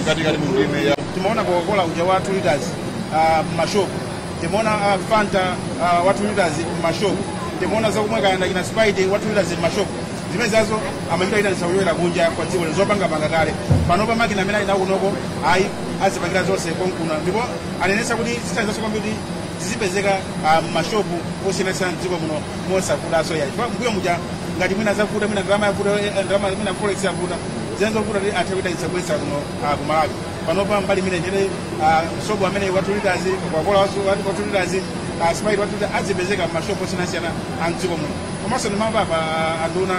katikati mu ndiye eya timaona coca-cola uja wa 2 liters ah, mmashopu timaona ah, fanta ah, wa 2 liters mmashopu timaona zakumwa kaya ndi kina sprite wa 2 liters mmashopu zimenezozo amachita itanitsa kuchokera kunja kwa dziko lino zopangapanga kale pano pa makina amene ali nawo kunoko ayi azipangira zonse konkuno ndipo anenetsa kuti zithandizanso kwambiri zizipezeka ah, mmashopu osiyanasiyana mdziko muno mosavutanso yayi chifukwa mmbuyo muja ngati mwina zavuta mwina ndalama yavuta eh, ndalama mwina forex yavuta zinali zovuta kuti athe kuitanitsa kubweretsa kuno ah, ku malawi panopa mbali imene ija ah, sobo amene wa 2 liters coca-cola wa 2 liters sprite wa 2 liter azipezeka mashopu osiyanasiyana a mdziko muno komanso ndimamva apa ah, anduna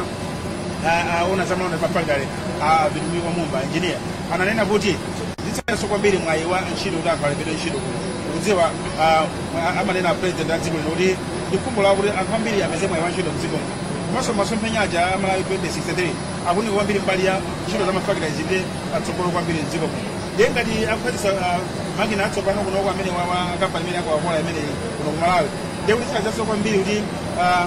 oona zamalonda ndi mafakitale a vitumbiko mumba engineer ananena kuti zithandizanso kwambiri mwayi wa ntchito kuti anthu alembedwe ntchito kuno kudziwa ah, ah, amanena president a dziko lino kuti ndi khumbo lawo kuti anthu ambiri apeze mwayi wa ntchito mdziko muno komanso masomphenya aja a malawi 2063 akuunika kwambiri mbali ya ntchito za mafakitale zipite patsogolo kwambiri mdziko muno ndiye ngati akukhazikitsa makina atsopano kunoko amene kampani imene ya coca-cola imeneyi kuno ku malawi ndiye kuti zithandizanso kwambiri kuti ah,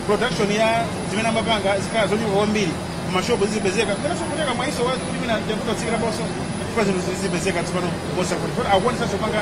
production ya zimene amapanga zikhala zochuluka kwambiri mmashopu zizipezeka komanso kutheka mwayinso wakuti mwina ndi yakuti otsikiraponso chifukwa zinthu zizipezeka tsopano mosakuti akuonesanso panga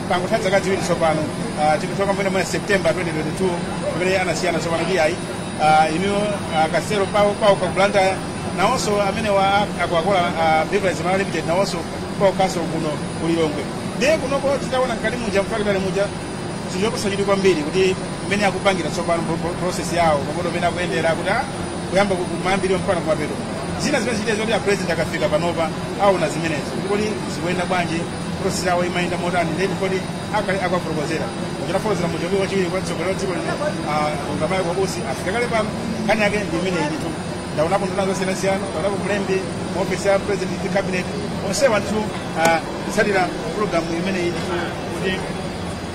pangotha dzaka dziwiri tsopano ah, tikuchoka mwina mwina september 2022 pamene anasiyana tsopano ndi ayi ah, inu ah, kasero pawokha ku blantyre nawonso amene wa coca-cola beverage malawi limited nawonso pawokhanso kuno kulilongwe ndiye kunoko titaona mkati muja mfakitale muja ndi chopatsa chidwi kwambiri kuti mmene akupangira tsopano pro- pro- process yawo komanso mmene akuyendera kuti ah, kuyamba ku- kumayambiriro mpaka kumapeto zina zimene zichitike zoti a president akafika panopa aona zimenezo kodi zikuyenda bwanji process yawo imayenda motani ndiye koti akhale akwa professor kuchita fotokozera muja poti wachiwiri kwa mtsogoleri wa dziko lino dr michael usi afika kale pano nkhani yake ndi imeneyitu ndaonapo nduna zosiyanasiyana ndaonapo mlembi mu ofesi ya president ndi cabinet onsewa ndithu kutsatira program imeneyitu kuti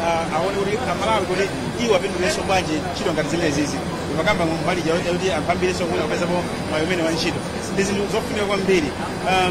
ah, aone kuti amalawi kuti iwo apindulenso bwanji ntchito ngati zimenezizi pokamba mbali ja kuti anthu ambirinso kuti apezapo mwayi umenewu wa ntchito ndi zinthu zofunika kwambiri Ah,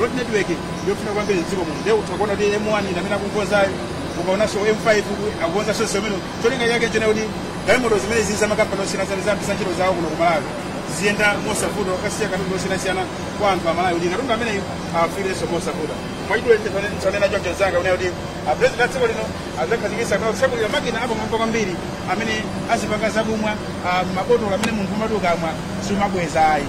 road network ndiyofunika kwambiri mdziko muno ndiye utha kuona kuti m1 imene akukonzayo ukaonanso m5 akukonzanso zimenezo cholinga chake ndi chakuti galimoto zimenezizi zamakampani osiyanasiyana zayambitsa ntchito zawo kuno kumalawi ziziyenda mosavuta kukasiya katundu osiyanasiyana kwa anthu amalawi kuti katundu ameneyu afikirenso mosavuta mwachidule ndanena choncho mnzanga kunena kuti a president a dziko lino adzakhazikitsa kapena kutsegulira makina apamwamba kwambiri amene azipanga zakumwa ah, mabotolo amene munthu umati ukamwa sumabweza ayi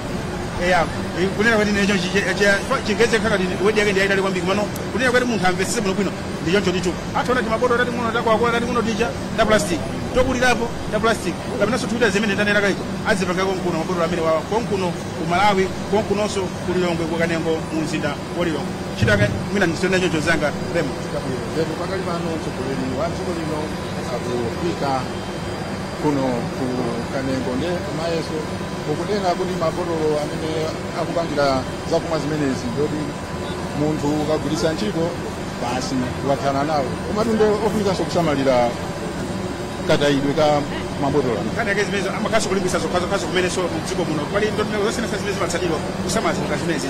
eya eh, kunena kuti m'Chichewa Chingerezi khala kuti wedi yake ndi yayitali kwambiri komano kunena kuti munthu amvetsetse bwino bwino ndi choncho ndicho aja timabotolo tating'ono takwakwa tating'ono tija ta plastic tokulirapo ta plastic kapenanso poyamba zimene tanena kaiko azipanga konkuno mabotolo amenewawa konkuno ku malawi konkunonso ku lilongwe ku kanengo mu mzinda wa lilongwe chitaka mwina ndisiyire choncho mzanga Raymond Chabwino ndetu pakali pano mtsogoleri wa dziko lino akufika kuno ku Kanengo nde Mayeso ukunena kuti mabotolo amene akupangira zakumwa zimenezi ndoti munthu ukagwiritsa ntchito basi wathana nawo komatu nde ofunikanso kusamalira katayidwe ka mabotolo amene nkhani yake imeneyo amakhalanso akulimbikitsa zokhazokhazo komanso mdziko muno pali ndondomeko zosiyanasiyana zimene zimatsatidwa kusamala zinthu zimenezi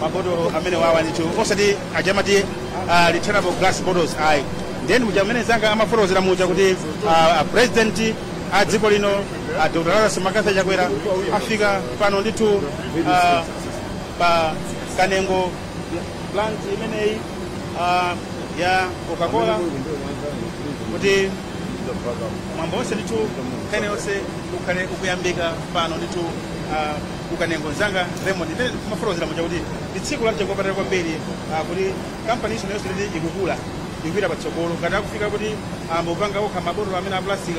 mabotolo amenewawa ndithu osati aja amati uh, returnable glass bottles ayi nde monga mmene mzanga amafotokozera muja kuti uh, a president a dziko lino a dr lazarus mccarthy chakwera afika pano ndithu uh, pa kanengo plant imeneyi uh, ya coca-cola kuti mwambo wonse ndithu kaya wonse ukhale ukuyambika pano ndithu uh, ku kanengo mzanga raymond mmene timafotokozera muja kuti ndi tsiku la mtengo wapatali kwambiri ah, kuti kampani iso nayonso kuti ikukula ikupita patsogolo ngati akufika kuti ayamba kupanga okha mabotolo amenewa a plastic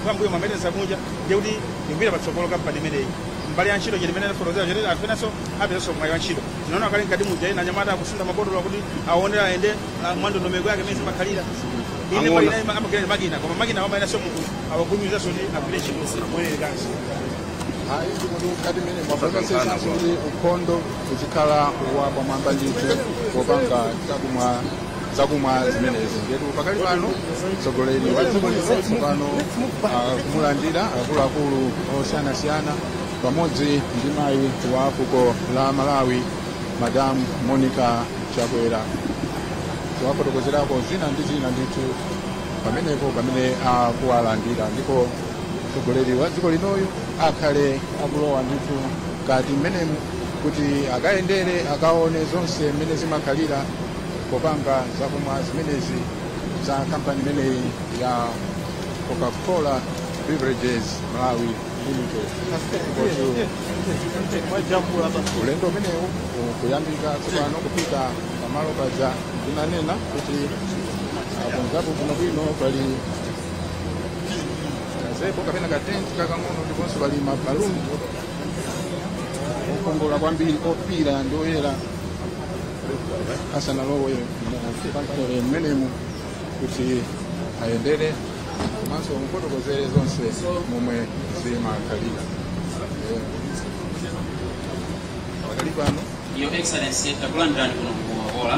kwambuyo amaitanitsa kunja ndiye kuti ikupita patsogolo kampani imeneyi mbali ya ntchito chete mmene anafotokozera chete anthu enanso apezanso mwayi wa ntchito tinaona kale mkati muja ena anyamata akusuntha mabotolo kuti aonera ayende ah, mwa ndondomeko yake mmene zimakhalira inde mbali inayi amagwira ndi makina koma makina amayeneranso munthu awafulumizenso kuti agwire ntchito moyenerekanso Kuonetsetsa kuti ukhondo uzikhala wapamwamba ndithu popanga zakumwa zimenezi ndetu pakali pano mtsogoleri wa dziko lino tsopano akumulandira akuluakulu osiyanasiyana pamodzi ndi mayi wa fuko la malawi madam monica chakwera kuwafotokozerako zina ndi zina ndithu pamenepo pamene akuwalandira ndipo mtsogoleri wa dziko linoyu akhale akulowa ndithu mkati mmenemu kuti akayendere akaone zonse mmene zimakhalira popanga zakumwa zimenezi za kampani imeneyi ya coca-cola beverages malawi limited ulendo umenewu ukuyambika tsopano kupita pamalo paja tinanena kuti akonzapo bwinobwino pali gazebo kapena katenti kakang'ono ndiponso pali mabaluni okongola kwambiri ofiira ndi oyera asanalowe mu factory mmenemu kuti ayendere komanso amufotokozere zonse momwe zimakhalira Eh, pakali pano Your Excellency, takulandirani kuno ku Ola.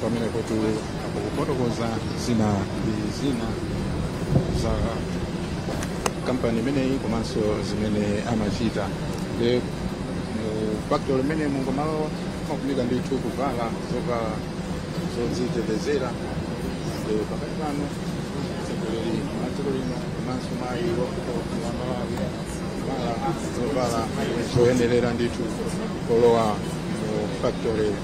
pamene akufotokoza zina ndi zina za kampani imeneyi komanso zimene amachita nde mu factory imeneyi mukamalowa amafunika ndithu kuvala zovala zodzitetezera nde pakadali pano mtsogoleri wa dziko lino komanso mayi wa malawi kuvala zovala zoyenerera ndithu polowa mu factory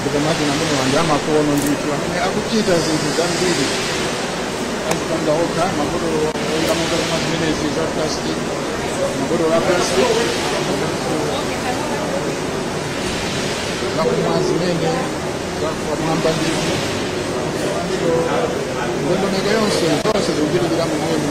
ndipo makina amenewa ndi amakono ndithu amene akuchita zinthu zambiri akupanga okha mabotolo oyikamo zakumwa zimenezi za plastic mabotolo a plastic zakumwa zimene zapamwamba ndithu so ndondomeko yonse zonse zikuchitikira momwemo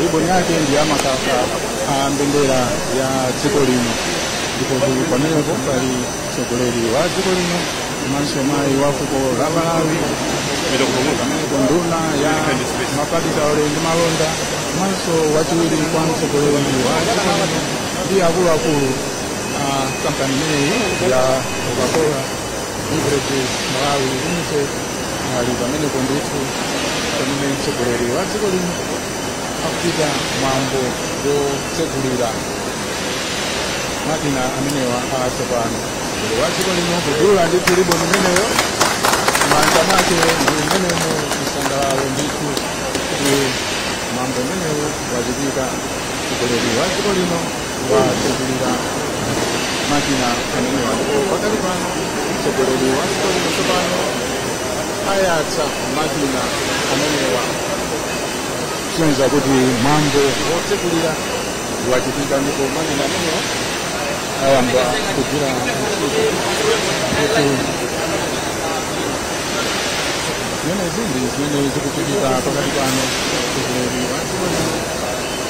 riboni yake ndi ya makaka a mbendera ya dziko lino ndipotu pamenepo pali mtsogoleri wa dziko lino komanso mayi wa fuko la malawi pamenepo nduna ya mafakitale ndi malonda komanso wachiwiri kwa mtsogoleri wa dziko lino ndi akuluakulu a kampani imeneyi ya coca-cola beverages malawi limited ali pamenepo ndithu pamene mtsogoleri wa dziko lino akuchita mwambo wotsegulira makina amenewa atsopano mtsogoleri wa dziko lino kudula ndithu riboni imeneyo m'manja mwake ndi mmenemo chisangalalo ndithu kuti mwambo umenewu wachitika mtsogoleri wa dziko lino watsegulira makina amenewa ndipo pakali pano mtsogoleri wa dziko lino tsopano ayatsa makina amenewa kusonyeza kuti mwambo wotsegulira wachitika ndipo makina amenewa ayamba kugwira ntchito kuti zimenezi ndi zimene zikuchitika pakadali pano mtsogoleri wa dziko lino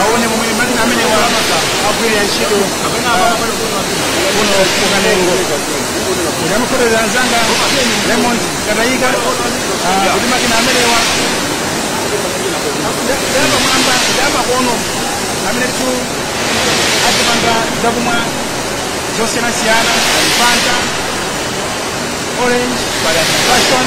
aone momwe makina amenewa akugwirira ntchito ah, kuno ku Kanengo ndimafotokoza anzanga Raymond Kataika ah, kuti makina amenewa ndapamwamba ndamakono amenetu azipanga zakumwa zosiyanasiyana fanta orange passion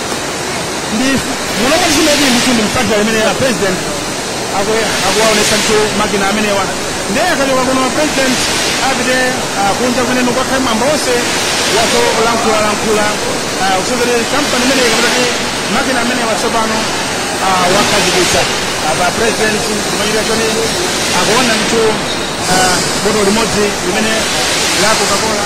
ndi muno zimene ndithu ndi mfactory imene a president akwe- akuwaonesa ndithu makina amenewa ndiye akachoka kuno president apite ah, kunja kumene kukhale mwambo onse wa zolankhulalankhula ah, kuzungulira kampani imeneyi kapita kuti makina amenewa tsopano ah, akhazikitsa apa president kumachita choti akuona ndithu ah, botolo limodzi limene la coca-cola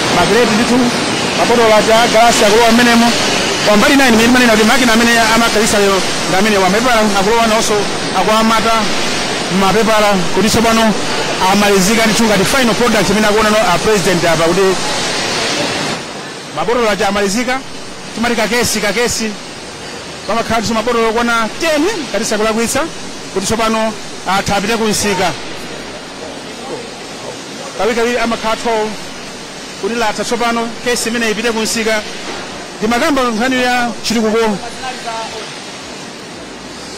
makireti ndithu mabotolo aja agalasi akulowa mmenemo kwa mbali inayi imene timanena kuti makina amene akhazikitsa lero ndi amenewa mapepala akulowa nawonso akuwamata mapepala kuti tsopano amalizika ndithu ngati final product imene akuonano a president apa kuti mabotolo aja amalizika timati kakesi kakesi pamakhalanso mabotolo okwana 10 ngati sindikulakwitsa kuti tsopano atha apite ku msika kawirikawiri amakhala 12 kuti yatha tsopano kesi imene ipite kumsika timakamba nkhani ya chitukuko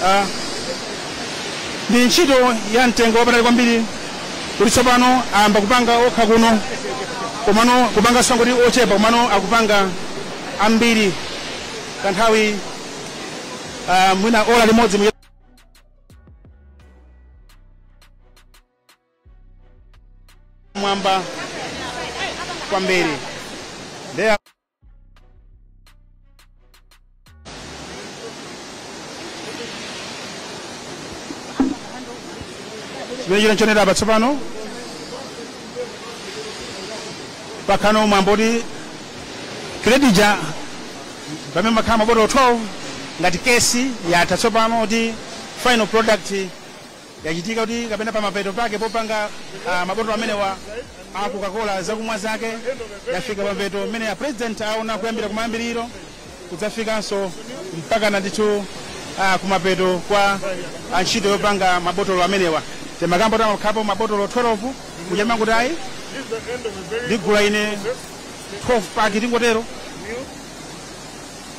Ah, ndi ntchito ya mtengo wapatali kwambiri kuti tsopano ayamba kupanga okha kuno komano kupanga osangoti ochepa komano akupanga ambiri kanthawi ah, mwina ola limodzi mwamba kwambiri ndiye chimene tikuonera apa tsopano pakhano mwaona kuti kireti ija pamene pamakhala mabotolo 12 ngati kesi yatha tsopano kuti final product yachitika kuti kapena pamapeto pake popanga ah, mabotolo amenewa a coca-cola zakumwa zake yafika pamapeto mmene a president aona kuyambira kumayambiriro kudzafikanso mpakana ndithu ah, kumapeto kwa ah, ntchito yopanga mabotolo amenewa timakamba kuti amakhalapo mabotolo 12 muja timati ayi ndigula ine 12 paki tingotero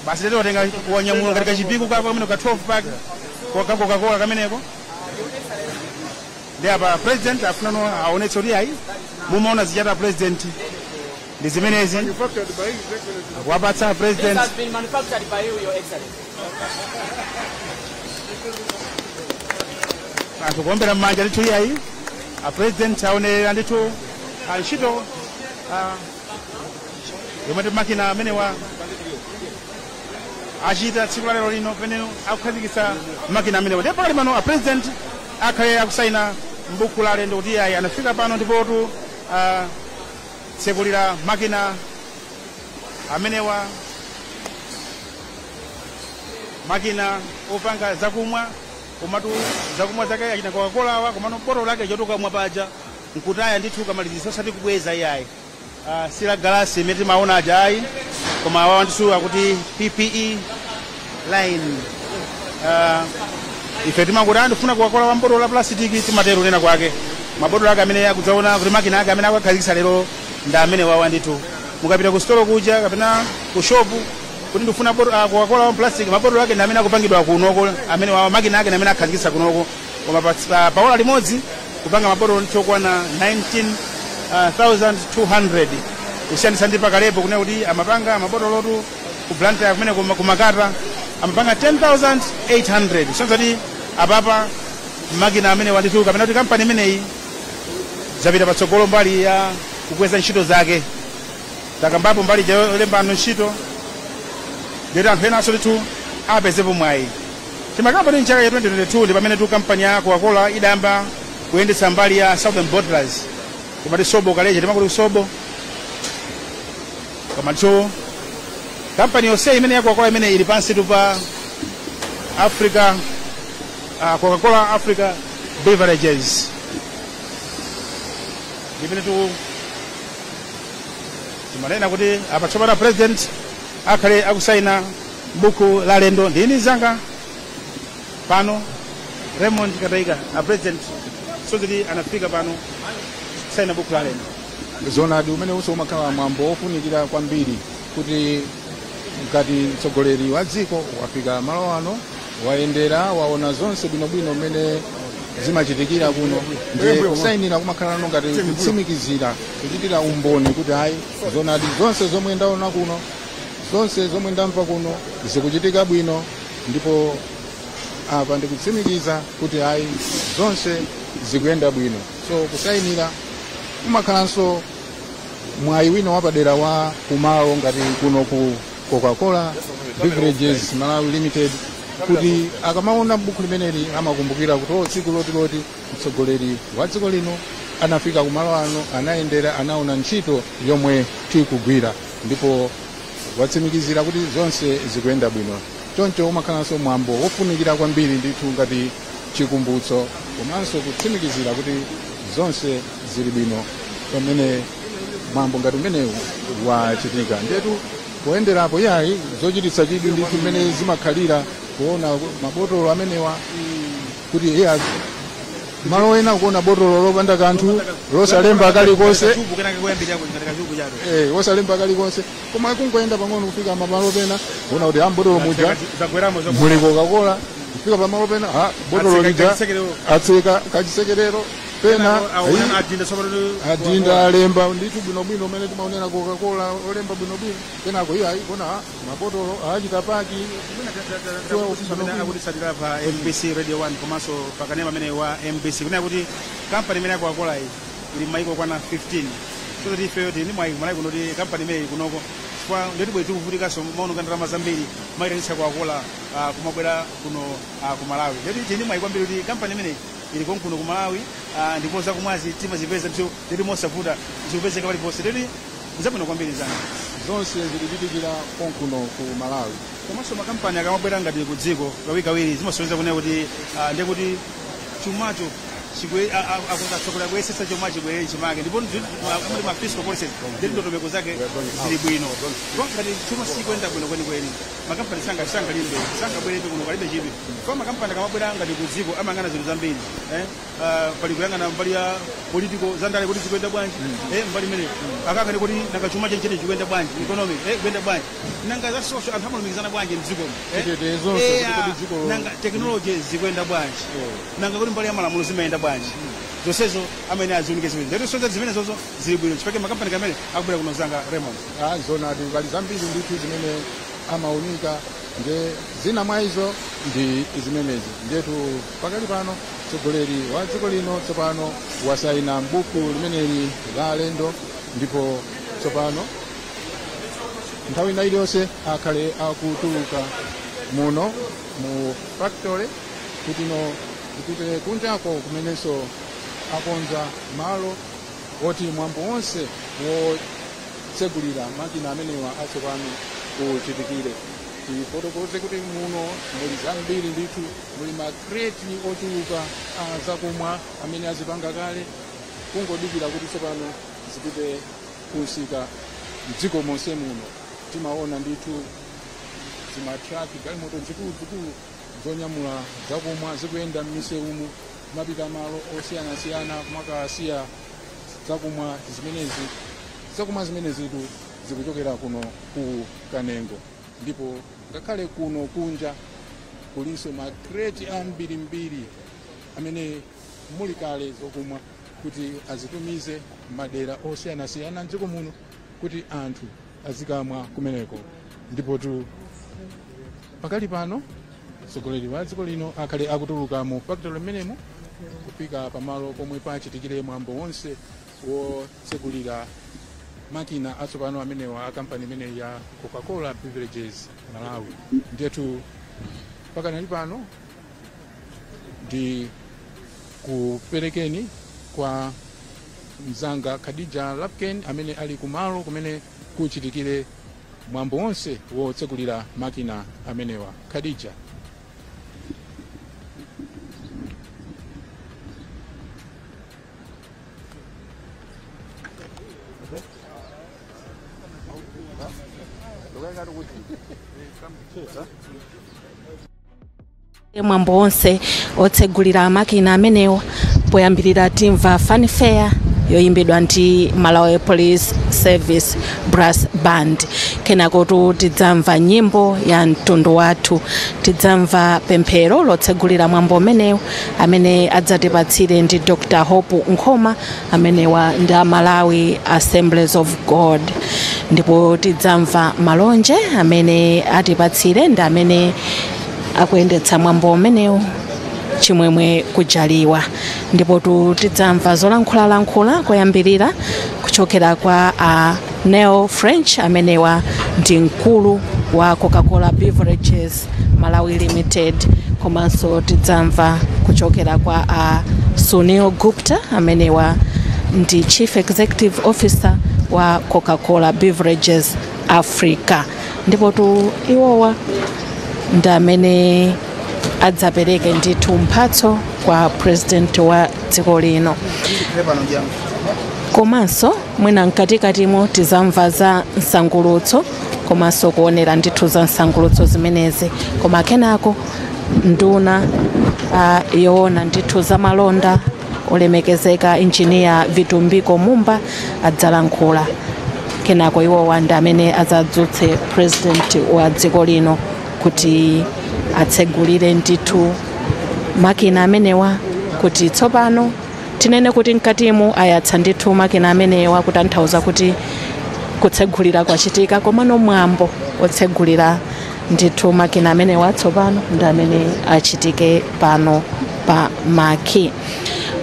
basi ndiye watenga wanyamula ngati kwa Chipiku kako kamene ka 12 paki ka kokakola kameneko ndiye apa president afunano aonetse kuti ayi mumaona zija a president ndi zimenezi akuwapatsa a president anthu kuombera mmanja ndithu iyayi a president aonerera ndithu ah, ntchito ah, yomweyi makina amenewa achita tsiku la lero lino pamene akukhazikitsa makina amenewa ndipo pakali pano a president akhale akusaina mbuku la alendo kuti iyayi anafika pano ndipotu ah, tsekulira makina amenewa makina opanga zakumwa komatu zakumwa zake achina coca-cola awa komano botolo lake chotukamwa paja nkutaya ndithu ukamalizisa osati kubweza iyayi uh, si la galasi imene timaona aja ayi koma awa ndithu akuti ppe line uh, ife timakuti ndifuna coca-cola wa m'botolo la plastic timatero nena kwake mabotolo ake amene akusonyeza kuti makina ake amene akuwakhazikisa lero ndi amenewawa ndithu mukapita ku sitolo kuja kapena ku shopu kuti ndifuna boto- ah, coca-cola wa plastic mabotolo ake ndi amene akupangidwa kunoko amenewawa makina ake ndi amene akhazikisa kunoko koma pa- pa- pa ola limodzi kupanga mabotolo ndithu okwana 19200 kusiyanitsa ndi pakalepo kunena kuti amapanga mabotolotu ku blantyre kumene kuma- kumakata amapanga 10800 kusonyeza kuti apapa makina amenewa ndithu kapena kuti kampani imeneyi zapita patsogolo mbali ya kukweza ntchito zake takambapo mbali ja yolemba anthu ntchito ndiyoti anthu enanso ndithu apezepo mwayi timakamba kuti mchaka cha 2022 ndi pamenetu kampani ya coca-cola idayamba kuyendetsa mbali ya southern bottlers timati sobo kaleja timakuti sobo komanso kampani yonse imene ya coca-cola imene ili pansitu pa africa uh, coca-cola africa beverages imenetu timanena kuti apa tsopano president akhale akusaina buku la alendo ndi mnzanga pano raymond kataika a president kusonyeza kuti anafika pano kusaina buku la alendo zoonadi umenewunso umakhala mwambo wofunikira kwambiri kuti ngati mtsogoleri wa dziko wafika malo ano wayendera waona zonse bwinobwino mmene zimachitikira kuno ndiye kusayinira kumakhala ano ngati kutsimikizira kuchitira umboni kuti ayi zoonadi zonse zomwe ndaona kuno zonse zomwe ndamva kuno zikuchitika bwino ndipo apa ndikutsimikiza kuti ayi zonse zikuyenda bwino so kusayinira kumakhalanso mwayi wina wapadera wa kumalo ngati kuno ku coca-cola beverages malawi limited kuti akamaona buku limeneli amakumbukira kuti o tsiku lakuti lakuti mtsogoleri wa dziko lino anafika kumalo ano anayendera anaona ntchito yomwe tikugwira ndipo watsimikizira kuti zonse zikuyenda bwino choncho umakhalanso mwambo wofunikira kwambiri ndithu ngati chikumbutso komanso kutsimikizira kuti zonse zili bwino pamene mwambo ngati umenewu wachitika ndetu poyenderapo yayi zochititsa chidwi ndi mmene zimakhalira kuona mabotolo amenewa kuti iya a- malo ena kuona botolo lopanda kanthu losalemba kalikonse Kachubu kenaka koyambirira kuchita kachubu chabe. eh, wosalemba kalikonse koma kungoyenda pang'ono kufika pamalo pena kuona kuti m'botolo muja zagweramo zagweramo muli kokakola kufika pamalo pena ha botolo Atseka lija kachisekerero. atseka kachisekerero pena ayi, adinda tsopano adinda alemba ndithu bwinobwino mmene timaonera kokakola yolemba bwinobwino kenako iye ayikano mabotolo achita paki amene akutitsatira pa mbc radio 1 komanso pakanema amene wa mbc kunena kuti kampani imene ya kokakola iyi ili m'mayiko okwana 15 so kuti ifeyo tili ndi mwayi kumalawi kuno kuti kampani imeneyi ili kunoko chifukwa ndiye kuti bwezi tikuvutikanso kumaononga ndalama zambiri kumayitanitsa kokakola ah, kumabwera kuno ah, ku malawi ndiye tili ndi mwayi kwambiri kuti kampani imeneyi ili konkuno ku malawi ah, ndipo zakumwazi timazipeza ndithu ndiye kuti mosavuta zikupezeka paliponse ndiye kuti zabwino kwambiri zanga zonse zikuchitikira konkuno ku malawi komanso makampani akamabwera ngati ku dziko kawirikawiri zimasonyeza kunena kuti ah, ndiye kuti chumacho chibwe a- a- a- atsogola kuyesetsa chuma chibwerere chimake ndipo ndi- ma- muli ma fiscal policies ndi ndondomeko zake zili bwino ndipo ngati chuma sichikuyenda bwino kwenikweni makampani sanga- sangalimbe sangabwerebe kuno kalibe chidwi chifukwa makampani akamabwera ngati ku dziko amayang'ana zinthu zambiri eh? Ah, pali kuyang'ana mbali ya political zandale kuti zikuyenda bwanji eh, mbali ina akayang'ane kuti nanga chuma chenicheni chikuyenda bwanji economic eh, kuyenda bwanji nanga za social anthu amalumikizana bwanji mdzikomo eh? Chitetezo, Eh, kuti ah, dzikolo- nanga technology zikuyenda bwanji nanga kuti mbali ya malamulo zimayenda bwanji zonsezo amene aziunike zimene ndiye kuti zonse zimenezozo zili bwino nchifukwa chake makampani amene akubwera kuno zanga Raymond Ah, zoonadi pali zambiri ndithu zimene amaunika nde zina mwa izo ndi zimenezi ndetu pakali pano mtsogoleri wa dziko lino tsopano wasaina m'buku limeneli la alendo ndipo tsopano nthawi ina iliyonse akhale akutuluka muno mu factory kutino apite kunjako kumenenso akonza malo oti mwambo wonse wotsegulira makina amenewa atsopano uchitikire tifotokoze kuti muno muli zambiri ndithu muli makreti ochuluka a zakumwa amene azipanga kale kungodikira kuti tsopano zipite kunsika mdziko monse muno timaona ndithu zimatraki galimoto zikulu zikulu zonyamula zakumwa zikuyenda m'misewumu kumapita malo osiyanasiyana kumakasiya zakumwa zimenezitu zikuchokera kuno ku kanengo ndipo ngakhale kuno kunja kulinso makreti ambirimbiri amene muli kale zokumwa kuti azitumize madera osiyanasiyana mdziko muno kuti anthu azikamwa kumeneko ndipotu pakali pano mtsogoleri wa dziko lino akhale akutuluka mu fakitale mmenemo kufika pamalo pomwe pachitikire mwambo wonse wotsegulira makina atsopano amenewa a kampani imeneyi ya coca-cola beverages malawi ndiyetu pakanali pano ndikuperekeni kwa mzanga khadija lapken amene ali kumalo kumene kuchitikire mwambo wonse wotsegulira makina amenewa khadija mwambo wonse otsegulira makina amenewa poyambirira timva fanfare yoyimbidwa ndi malawi police service brass band kenakotu tidzamva nyimbo ya mtundu wathu tidzamva pemphero lotsegulira mwambo umenewu amene adzatipatsire ndi dr hope nkhoma amenewa ndi a malawi assemblies of god ndipo tidzamva malonje amene atipatsire ndi amene akuyendetsa mwambo umenewu chimwemwe kujaliwa ndipotu tidzamva zolankhulalankhula koyambirira kuchokera kwa a neil french amenewa ndi mkulu wa coca-cola beverages Malawi Limited komanso tidzamva kuchokera kwa a Sunil Gupta amenewa ndi Chief Executive Officer wa Coca-Cola Beverages Africa ndipotu iwowa ndi amene adzapereke ndithu mphatso kwa president wa dziko lino komanso mwina mkatikatimo tizamva za msangulutso komanso kuonera ndithu za msangulutso zimenezi koma kenako nduna uh, yoona ndithu za malonda olemekezeka injiniya vitumbiko mumba adzalankhula kenako iwowa ndi amene adzadzutse president wa dziko lino kuti atsegulire ndithu makina amenewa kuti tsopano Tinene kuti mkatimu ayatsa ndithu makina amenewa kutanthauza kuti kutsegulira kwachitika komano mwambo otsegulira ndithu makina amenewa tsopano ndi amene achitike pano pa maki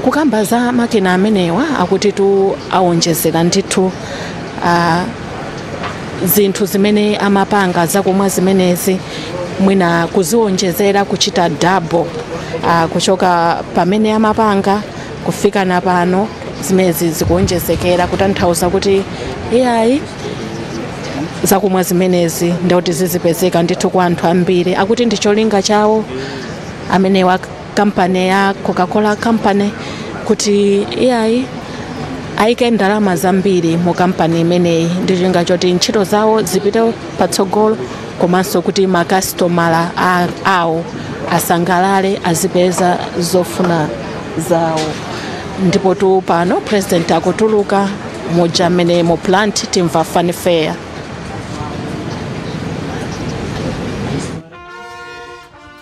kukamba za makina amenewa akutitu awonjezera ndithu ah, zinthu zimene amapanga zakumwa zimenezi mwina kuziwonjezera kuchita double uh, kuchoka pamene amapanga kufika na pano zimenezi zikuwonjezekera kutanthauza kuti iyayi zakumwa zimenezi ndikuti zizipezeka ndithu kwa anthu ambiri akuti ndi cholinga chawo amene kampani ya coca-cola company kuti iyayi ayike ndalama zambiri mu kampani imeneyi ndi cholinga choti ntchito zawo zipite patsogolo komanso kuti makasitomala a- awo asangalale azipeza zofuna zawo ndipo tu pano president akutuluka muja mmenemu mu plant timva fanfare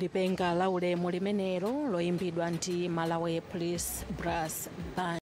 lipenga la ulemu limenelo loyimbidwa ndi malawi police brass band